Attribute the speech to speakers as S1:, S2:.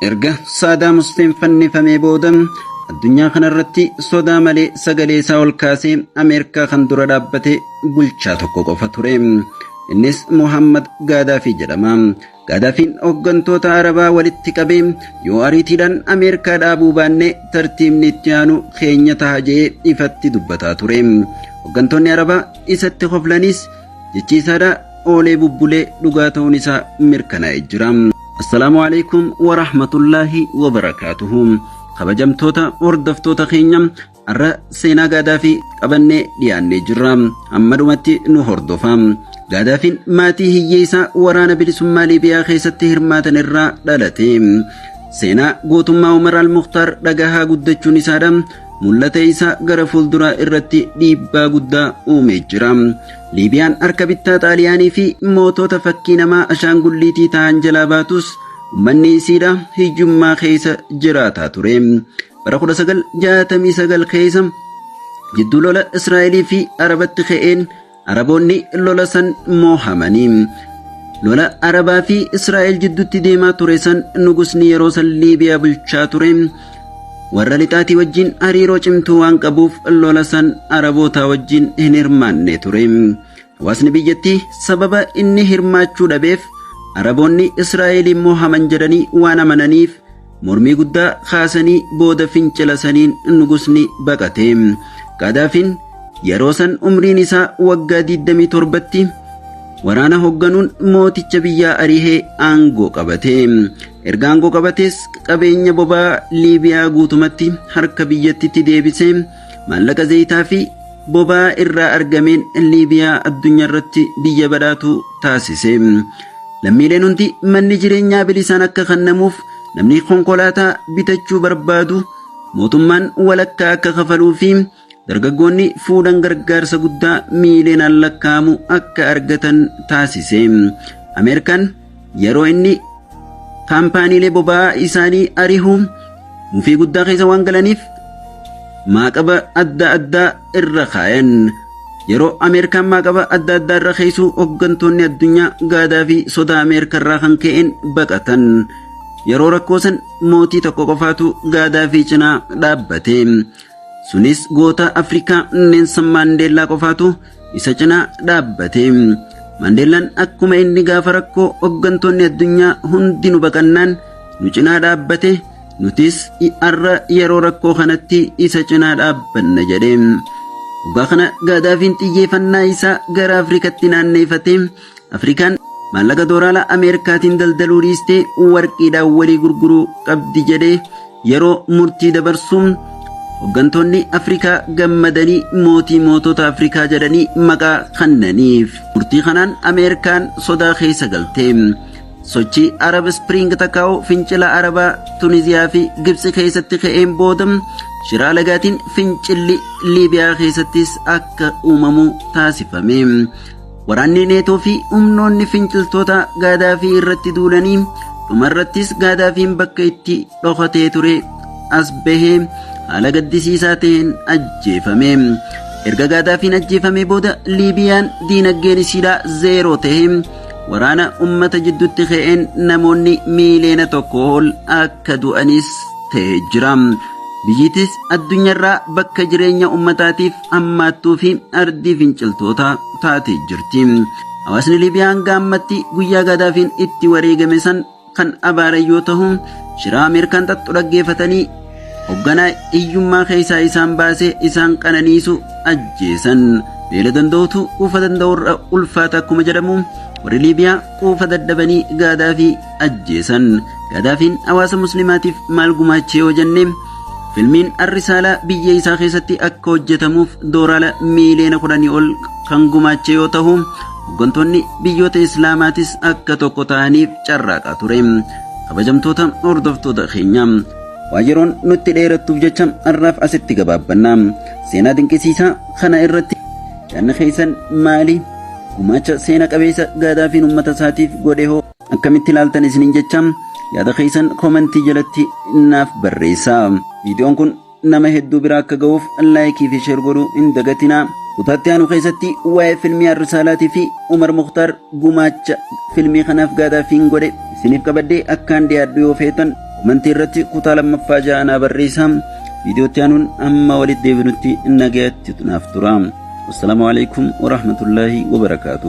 S1: Erga Saadaam Huseen fannifamee booda addunyaa kanarratti sodaa malee sagalee isaa ol kaasee Ameerikaa kan dura dhaabbate bulchaa tokko qofa ture. Innis Muhammad Gaadaafii jedhama. Gaadaafiin hooggantoota Arabaa walitti qabee yoo ariitiidhaan Ameerikaa dhaabuu baanne tartiibni itti aanu keenya taha jedhee ifatti dubbataa ture. Hooggantoonni Arabaa isatti koflanis jechiisaadha oolee bubbulee dhugaa ta'uun isaa mirkanaa'e jira. Assalaamu alaikum wa rahmatullaahi wa barakaatuhu. Kabajamtoota hordoftoota keenya har'a seenaa gaadaa fi qabannee dhiyaannee jirra. Amma dhumatti nu hordofa. Gaadaafiin maatii hiyyeessaa waraana bilisummaa Liibiyaa keessatti hirmaatan irraa dhalate. Seenaa gootummaa Umar al-Mukhtaar dhagahaa guddachuun isaadha. mul'ata isaa gara fuulduraa irratti dhiibbaa guddaa uumee jira. Liibiyaan harka bittaa Xaaliyaanii fi mootota fakkii namaa ashaangulliitii ta'an jalaa baatus ummanni isiidha hiyyummaa keessa jiraataa ture. Bara 1969 keessa jidduu lola Israa'elii fi Arabatti ka'een Araboonni lola san moohamanii. Lola Arabaa fi Israa'el jidduutti deemaa ture san nugusni yeroo san Liibiyaa bulchaa ture. Warra lixaatii wajjin hariiroo cimtuu waan qabuuf lola san Arabootaa wajjin hin hirmaanne ture. Hawaasni biyyattii sababa inni hirmaachuu dhabeef Araboonni Israa'eliin moohaman jedhanii waan amananiif Mormii guddaa kaasanii booda fincila saniin nugusni baqate. Gaadaafiin yeroo san umriin isaa waggaa 27tti waraana hogganuun mooticha biyyaa arihee aangoo qabate. Erga aangoo qabatees qabeenya bobaa Liibiyaa guutumatti harka biyyattitti deebisee Maallaqa zayitaa fi boba'aa irraa argameen Liibiyaa addunyaa irratti biyya badhaatu taasise. Lammiileen hundi manni jireenyaa bilisaan akka kennamuuf namni konkolaataa bitachuu barbaadu mootummaan walakkaa akka kafaluu fi dargaggoonni fuudhan gargaarsa guddaa miiliyoonaan lakkaa'amu akka argatan taasise. Ameerikaan Yeroo inni kaampaaniilee boba'aa isaanii ari'u mufii guddaa keessa waan galaniif maaqaba adda addaa irra kaayan. Yeroo Ameerikaan maaqaba adda addaa irra keessuu hooggantoonni addunyaa gaadaa fi sodaa Ameerikaa irraa kan ka'een baqatan. Yeroo rakkoo san mootii tokko qofaatu gaadaa fi cinaa dhaabbate. Sunis goota Afrikaa Neensan Maandeellaa qofaatu isa cinaa dhaabbate. Maandeellaan akkuma inni gaafa rakkoo hooggantoonni addunyaa hundi nu baqannaan nu cinaa dhaabbate nutis har'a yeroo rakkoo kanatti isa cinaa dhaabbanna jedhe. Dhugaa kana Gaadaafiin xiyyeeffannaa isaa gara Afrikatti naanneeffatee Afrikaan maallaqa dooraalaa Ameerikaatiin daldaluu dhiistee warqiidhaan walii gurguruu qabdi jedhee yeroo murtii dabarsu Hoggantoonni Afrikaa gammadanii mootii mootota Afrikaa jedhanii maqaa kannaniif. Murtii kanaan Ameerikaan sodaa keessa galte. Sochii Arab Spring takkaa'u fincila Arabaa Tuniziyaa fi Gibsi keessatti ka'een booda shiraa lagaatiin fincilli Liibiyaa keessattis akka uumamu taasifame. Waraanni Neetoo fi humnoonni finciltoota Gaadaafii irratti duulanii dhumarrattis Gaadaafiin bakka itti dhokatee ture as bahee haala gaddisiisaa ta'een ajjeefame. Erga Gaadaafiin ajjeefamee booda Liibiyaan diinagdeen isiidhaa zeeroo ta'e waraana ummata jidduutti ka'een namoonni miiliyoona tokko ol akka du'anis ta'e jira. Biyyitis addunyaarraa bakka jireenya ummataatiif ammaattuu fi ardii finciltootaa taatee jirti. Hawaasni Liibiyaa hanga ammatti guyyaa Gaadaafiin itti wareegame san kan abaaran yoo tahu shiraa Ameerikaan xaxxu dhaggeeffatanii hogganaa hiyyummaa keessaa isaan baasee isaan qananiisu ajjeesan. Beela danda'utu quufa danda'urra ulfaata akkuma jedhamu warri Liibiyaa quufa dadhabanii Gaadaafii ajjeesan. Gadaafiin hawaasa muslimaatiif maal gumaachee yoo jenne filmiin arrisaalaa biyya isaa keessatti akka hojjetamuuf dooraala miiliyoona kudhanii ol kan gumaachee yoo ta'u hooggantoonni biyyoota islaamaatis akka tokko ta'aniif carraaqaa ture. Kabajamtoota hordoftoota keenya waa yeroon nutti dheerattuuf jecha har'aaf asitti gabaabbanna. Seenaa dinqisiisaa kana irratti yaadni keessan maali? Gumaacha seena qabeessa gaadaafiin uummata isaatiif godhe hoo? Akkamitti ilaaltan isiniin jecha yaada keessan koomentii jalatti naaf barreessaa. Viidiyoon kun nama hedduu bira akka ga'uuf laayikii fi sheer godhuu hin dagatinaa. Kutaatti aanu keessatti waa'ee filmii Arrisaalaatii fi Umar Muktaar gumaacha filmii kanaaf gaadaafiin godhe isiniif qabaddee akkaan dhiyaadhu yoo feetan koomentii irratti kutaa lammaffaa ja'a naa barreessaa. Viidiyootti aanuun amma walitti deebinutti nagayatti naaf tura. Wassalaamu alaikum warahmatullaahi wabarakaatuhu.